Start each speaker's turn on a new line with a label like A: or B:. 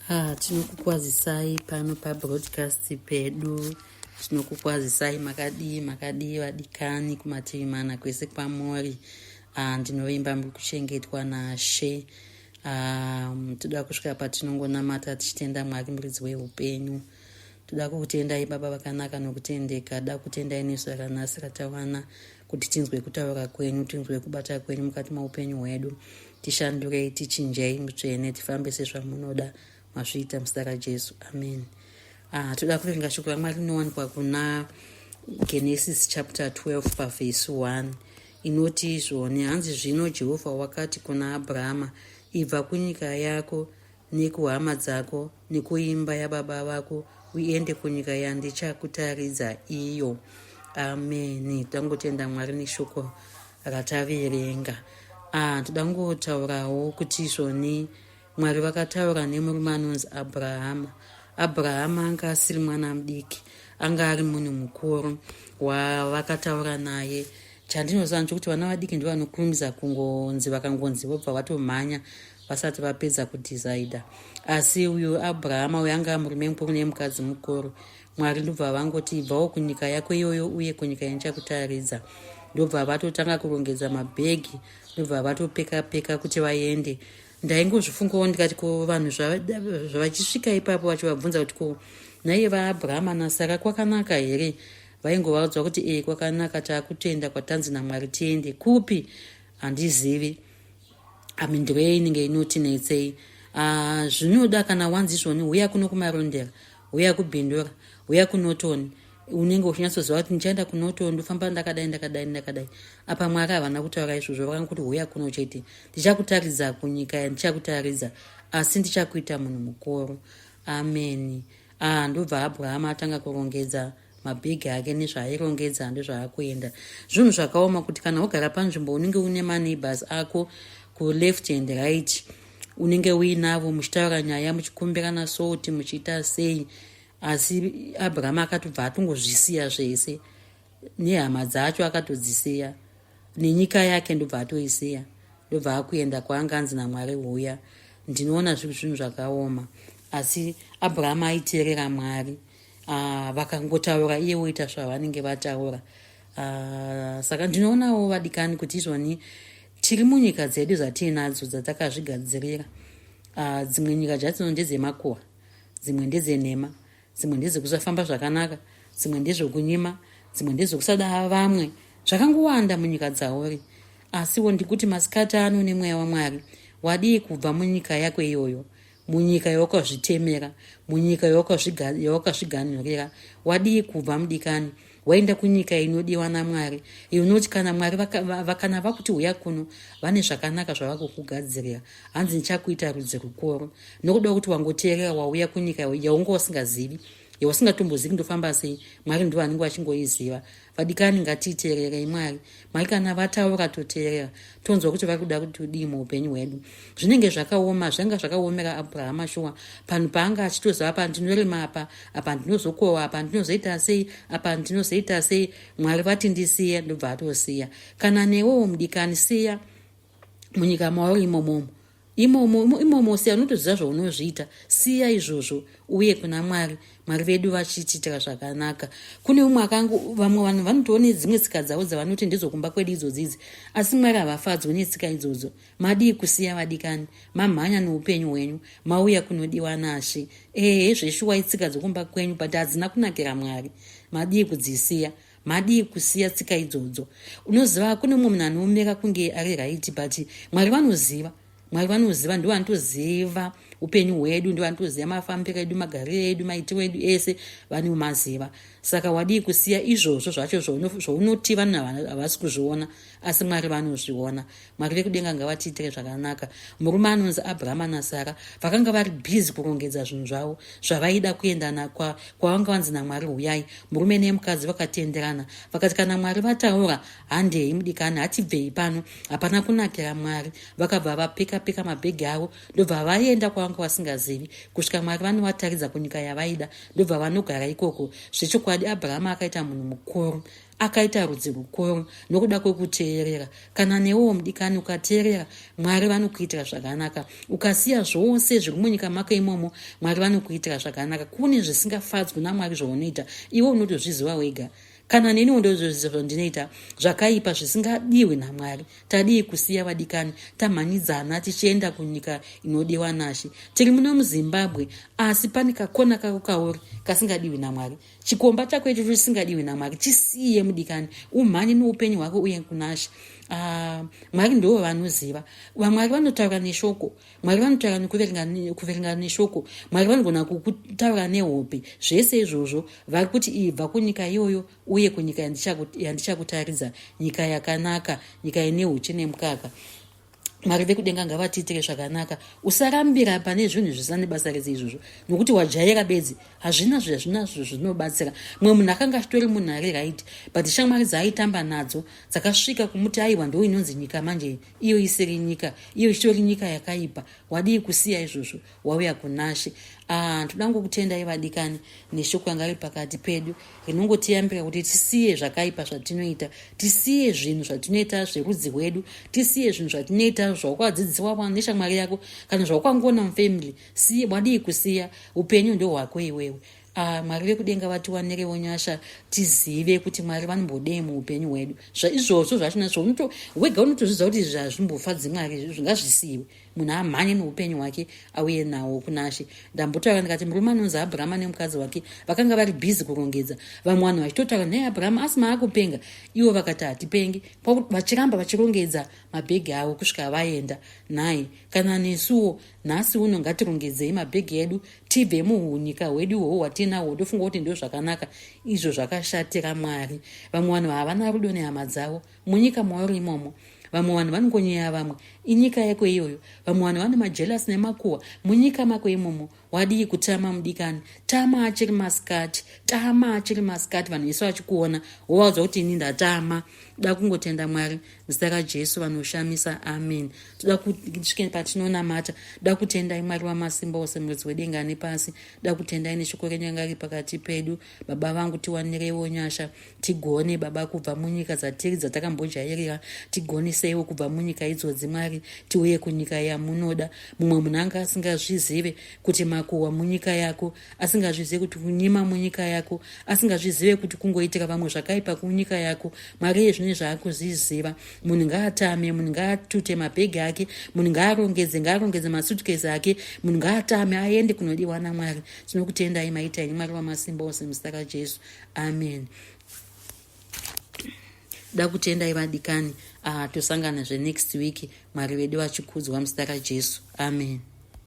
A: Ah, tinokukwazisai pano pabroadcast pedu tinokukwazisai makadii makadii vadikani kumativi mana kwese kwamori ah, ndinovimba muri kuchengetwa nashe ah, toda kusvika patinongonamata tichitenda mwari muridzi weupenyu toda kukutendai baba vakanaka nokutendeka da kutendai nesu rakanasi ratawana kuti tinzwe kutaura kwenyu tinzwe kubata kwenyu mukati meupenyu hwedu Tishandurei, tichinjei mutsvene, tifambe sezvamunoda mazviita muzita raJesu. Amen. Ah, toda kuverenga shoko raMwari rinowanikwa kuna Genesis chapter 12 pavhesi 1 inoti izvoni hanzi zvino Jehovha wakati kuna Abrahama ibva kunyika yako nekuhama dzako nekuimba yababa vako uende kunyika yandichakutaridza iyo ameni tangotenda mwari neshoko rataverenga ah, toda ngotaurawo kuti izvoni mwari vakataura nemurume anonzi abrahama abrahama anga asiri mwana mudiki anga ari munhu mukuru wavakataura naye chandinoziva nchokuti vana vadiki ndivanokurumidza kungonzi vakangonzi vobva vatomhanya vasati vapedza kudhisaidha asi uyu abrahama uyo anga murume mukuru nemukadzi mukuru mwari ndobva vangoti ibvawo kunyika yako iyoyo uye kunyika yanichakutaridza ndobva vatotanga kurongedza mabhegi ndobva vatopeka peka kuti vaende ndaingozvifungawo ndikati ko vanhu zvavachisvika ipapo vachivabvunza kuti ko naiye vaabrahama nasara kwakanaka here vaingovaudzwa kuti ee kwakanaka taakutenda kwatanzi namwari tiende kupi handizivi amindiro iya inenge inotinetsei ah, zvinoda kana wanzi izvoni huya kuno kumarondera huya kubhindura huya kunotoni unenge uchinyatsoziva kuti ndichaenda kunotoni ndofamba ndakadai ndakadai ndakadai apa mwari havana kutaura izvozvo vakanga kuti huya kuno chete ndichakutaridza kunyika ya ndichakutaridza asi ndichakuita munhu mukuru ameni ah, ndobva abrahama atanga kurongedza ah, mabhegi ake nezvaairongedza ndozvaakuenda zvinhu zvakaoma kuti kana wogara panzvimbo unenge une maneighbors ako kuleft and right unenge uinavo muchitaura nyaya muchikumbirana soti muchiita sei asi abraham akatobva atongozvisiya zvese nehama dzacho akatodzisiya nenyika yake ndobva atoisiya ndobva akuenda kwaanga anzi namwari huya ndinoona zviri zvinhu zvakaoma asi abraham aiteerera mwari uh, vakangotaura iye woita zvavanenge vataura uh, saka ndinoonawo vadikani kuti izvoni tiri munyika dzedu dzatiinadzo dzatakazvigadzirira uh, dzimwe nyika dzatino ndedzemakuwa dzimwe ndedzenhema dzimwe ndedzekusafamba zvakanaka dzimwe ndezvekunyima dzimwe ndedzekusada vamwe zvakangowanda munyika dzauri asiwo ndikuti masikati ano nemweya wamwari wadii kubva munyika yako iyoyo munyika yawakazvitemera munyika yawakazviganhurira wadii kubva mudikani waenda kunyika inodiwa namwari iyo unoti kana mwari vakana vakuti huya kuno vane zvakanaka zvavakukugadzirira hanzi ndichakuita rudzi rukuru nokuda kuti wangoteerera wauya kunyika yaunga wasingazivi yausingatombozivi ndofamba sei mwari ndivo anenge vachingoiziva vadikani ngatiteererei mwari mai kana vataura toteerera tonzwa kuti vari kuda kuti udii muupenyu hwedu zvinenge zvakaoma zvanga zvakaomera abrahama shuwa panhu paanga achitoziva apa ndinorima apa apa ndinozokohwa apa ndinozoita sei apa ndinozoita sei mwari vati ndisiye ndobva atosiya kana newewo mudikani siya munyika mauri imomomo Imomo, imomo siya, unotoziva zvaunozviita. Siya izvozvo uye kuna Mwari, Mwari vedu vachitiitira zvakanaka. Kune umwe akanga, vamwe vanhu vanotiwo nedzimwe tsika dzavo dzavanoti ndedzokumba kwedu idzodzi idzi, asi Mwari havafadzwe netsika idzodzo. Madii kusiya vadikani, mamhanya noupenyu hwenyu, mauya kunodiwa nashe. Ehe, hezveshuwa itsika dzokumba kwenyu, but hadzina kunakira Mwari. Madii kudzisiya? madii kusiya tsika idzodzo unoziva kune mumwe munhu anoomeka kunge ari raiti but mwari vanoziva mwari vanoziva ndivo vanotoziva upenyu hwedu ndivo vanotoziva mafambiro edu magariro edu maitiro edu ese vane umaziva saka wadii kusiya izvozvo zvacho zvaunoti vanhu havasi kuzviona asi mwari vanozviona Mwari vekudenga ngavatiitire zvakanaka. Murume anonzi Abrahama naSara vakanga vari busy kurongedza zvinhu zvavo zvavaida kuenda nakwa kwavanga vanzi naMwari huyai. Murume nemukadzi vakatenderana vakati kana Mwari vataura handei mudikani hatibvei pano hapana kunakira Mwari. Vakabva vapeka peka mabhegi avo ndobva vaenda kwavanga vasingazivi kusvika Mwari vanovataridza kunyika yavaida ndobva vanogara ikoko. Zvechokwadi Abrahama akaita munhu mukuru. akaita rudzi rukuru nokuda kwekuteerera kana newewo mudikani ukateerera mwari vanokuitira zvakanaka ukasiya zvose zviri munyika mako imomo mwari vanokuitira zvakanaka kune zvisingafadzwi namwari zvaunoita iwe unotozviziva wega kana neniwo ndozvozviziva zvandinoita zvakaipa zvisingadiwi namwari tadii kusiya vadikani tamhanyidzana tichienda kunyika inodiwa nashe tiri muno muzimbabwe asi pane kakona kako kauri kasingadiwi namwari chikomba chako icho chisingadiwi namwari chisiye mudikani umhanye noupenyu hwako uye kunasha ah, mwari ndivo vanoziva vamwari vanotaura neshoko mwari vanotaura nekuverenga neshoko mwari vanogona kukutaura nehope zvese izvozvo vari kuti ibva kunyika iyoyo uye kunyika yandichakutaridza nyika yakanaka nyika ine uchi nemukaka mwari vekudenga ngavatiitire zvakanaka usarambira pane zvinhu zvisina nebasa rese izvozvo nokuti wajaira bedzi hazvina zvazvinazvo zvinobatsira mumwe munhu akanga achitori munhu ari right but shamwari dzaaitamba nadzo dzakasvika kumuti aiwa ndo inonzi nyika manje iyo isiri nyika iyo ichitori nyika yakaipa wadii kusiya izvozvo wauya kunashe ah ndoda ngokutendai vadikani neshoko yanga iri pakati pedu rinongotiyambira kuti tisiye zvakaipa zvatinoita tisiye zvinhu zvatinoita zverudzi rwedu tisiye zvinhu zvatinoita zvawakadzidziwa neshamwari yako kana zvawakangona mufamily siye wadii kusiya upenyu ndohwako iwewe Ah, mwari vekudenga vatiwanirewo nyasha tizive kuti mwari vanombodei muupenyu hwedu zvaizvozvo zvachina zvo wega unotozvidza kuti izvi hazvimbofadzi mwari izvi zvingazvisiyiwe munhu amhanye neupenyu hwake auye nawo kunashe ndambotaura ndikati murume anonzi abrahama nemukadzi wake vakanga vari bhizi kurongedza vamwe vanhu vachitotaura nhai abrahama asi maakupenga ivo vakati hatipengi vachiramba vachirongedza mabhegi avo kusvika vaenda nhai kana nesuwo nhasi uno ngatirongedzei mabhegi edu tibve muhunyika hwedu ihoho hwatinahwo ndofunga kuti ndo zvakanaka izvo zvakashatira mwari vamwe vanhu havana rudo nehama dzavo munyika mauri imomo vamwe vanhu vanongonyeya vamwe inyika yeko iyoyo vamwe vanhu vane majelasi nemakuhwa munyika mako imomo wadii kutama mudikani tama achiri masikati tama achiri masikati vanhu vese vachikuona wovaudza kuti ini ndatama toda kungotenda mwari muzita rajesu vanoshamisa amen toda kusvike patinonamata toda kutendai mwari wamasimba ose muridzi wedenga nepasi toda kutendai neshoko renyu ranga riri pakati pedu baba vangu tiwanireiwo nyasha tigone baba kubva munyika dzatiri dzatakambojairira tigoniseiwo kubva munyika idzodzi mwari tiuye kunyika yamunoda mumwe munhu anga asingazvizive kuti makuhwa munyika yako asingazvizive kuti kunyima munyika yako asingazvizive kuti kungoitira vamwe zvakaipa kunyika yako mwari yezvine zvaakuzviziva munhu ngaatame munhu ngaatute mabhegi ake munhu ngaarongedze ngaarongedze masutkesi ake munhu ngaatame aende kunodiwa namwari tinokutendai maita ini mwari wamasimba ose muzita rajesu amen da kutendai vadikani uh, ah, tosanganazve next week mwari vedu vachikudzwa muzita rajesu amen